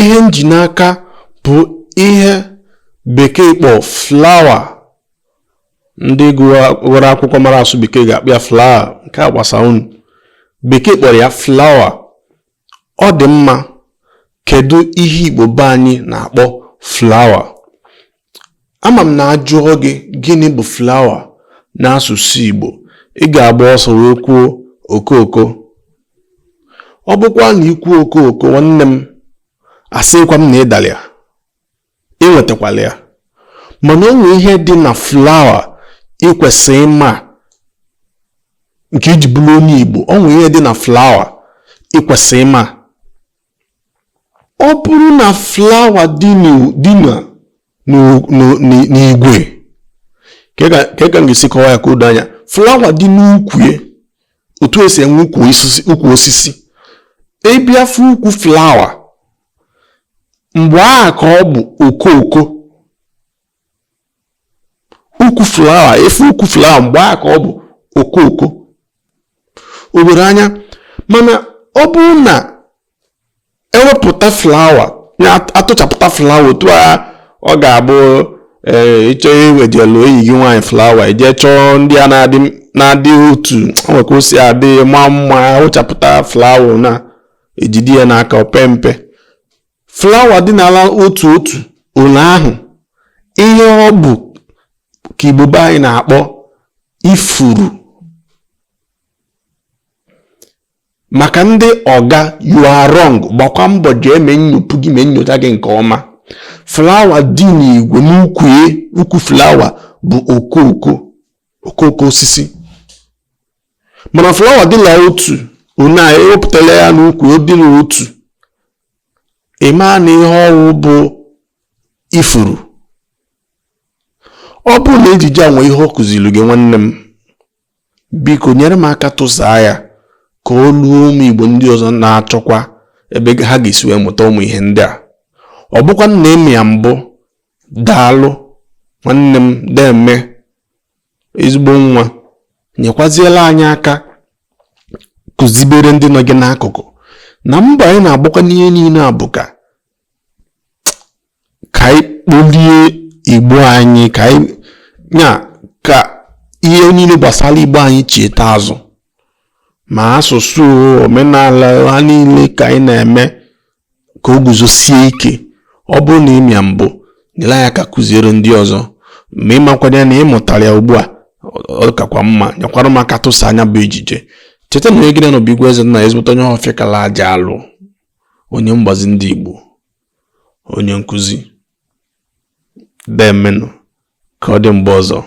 ihe m ji n'aka bụ ihe bekee kpọ flower ndị gụrụ akwụkwọ mara asụ bekee ga-akpọ ya flower nke a gbasa unu bekee kpọrọ ya flower ọ dị mma kedu ihe igbo be anyị na-akpọ flower Ama m na a jụọ gị gịnị bụ flower n'asụsụ Igbo, ị ga-agba ọsọ wee kwuo okooko. Ọ bụkwa na i kwuo okooko nwanne m, asịkwa m na ị dara ya, ị nwetakwala ya. Mana o nwe ihe dị na flower ị kwesịrị ịma nke i ji bụrụ onye Igbo, o nwe ihe dị na flower ị kwesịrị ịma. ọ bụrụ na flower dị n'igwe kee ka m ga-esi kọwa ya ka o doo anya flower dị n'ukwu otu e si enwe ukwu osisi ị bịa fụ ukwu flower mgbe a ka ọ bụ okooko ukwu flower ị fụ ukwu flower mgbe a ka ọ bụ okooko o were anya mana ọ bụrụ na e wepụta flower na a tụchapụta flower otu a ọ ga-abụ ee ị chọọ iwejelu enyi gị nwaanyị flower i jee chọọ ndị a na-adị na-adị otu o nwe ka o si adị mma mma a wụchapụta flower na-ejide ya n'aka opempe flower dị n'ala otu otu ole ahụ ihe ọ bụ ka igbo be anyị na-akpọ ifuru maka ndị ọga you are wrong gbakwa mbọ jee mee nnyopu gị mee nyocha gị nke ọma flower dị n'igwe n'ukwu e, ukwu flower bụ okooko okooko osisi mana flower dịla otu one e wepụtala ya n'ukwu ọ dịla otu ị maa na ihe ọ wụ bụ ifuru ọ bụrụ na ejije a nwee ihe ọ kụziri gị nwanne m biko nyere m aka tụsaa ya ka o luo ụmụ igbo ndị ọzọ na-achọkwa ebe ha ga-esi wee mụta ụmụ ihe ndị a ọ bụkwa na e mee ya mbụ daalụ nwanne m deeme ezigbo nwa nyekwaziela anyị aka kụzibere ndị nọ gị n'akụkụ na mbọ anyị na-agbakwa n'ihe niile a bụ ka ka anyị kpolie igbo anyị ka anyị nya ka ihe niile gbasara igbo anyị cheta azụ ma asụsụ omenala ha niile ka anyị na-eme ka o guzosie ike ọ bụrụ na ị ma ya mbụ nyere anyị aka kụziere ndị ọzọ ma ịmakwanye na ị mụtara ya ugbu a ọ kakwa mma nyekwara m aka tụsaa nya bụ ejije cheta na onye gị na ya nọ bụ Igwe Eze na ezigbote onye ọfịa kala aja alụ onye mgbazi ndị Igbo onye nkụzi demenụ ka ọ dị mgbe ọzọ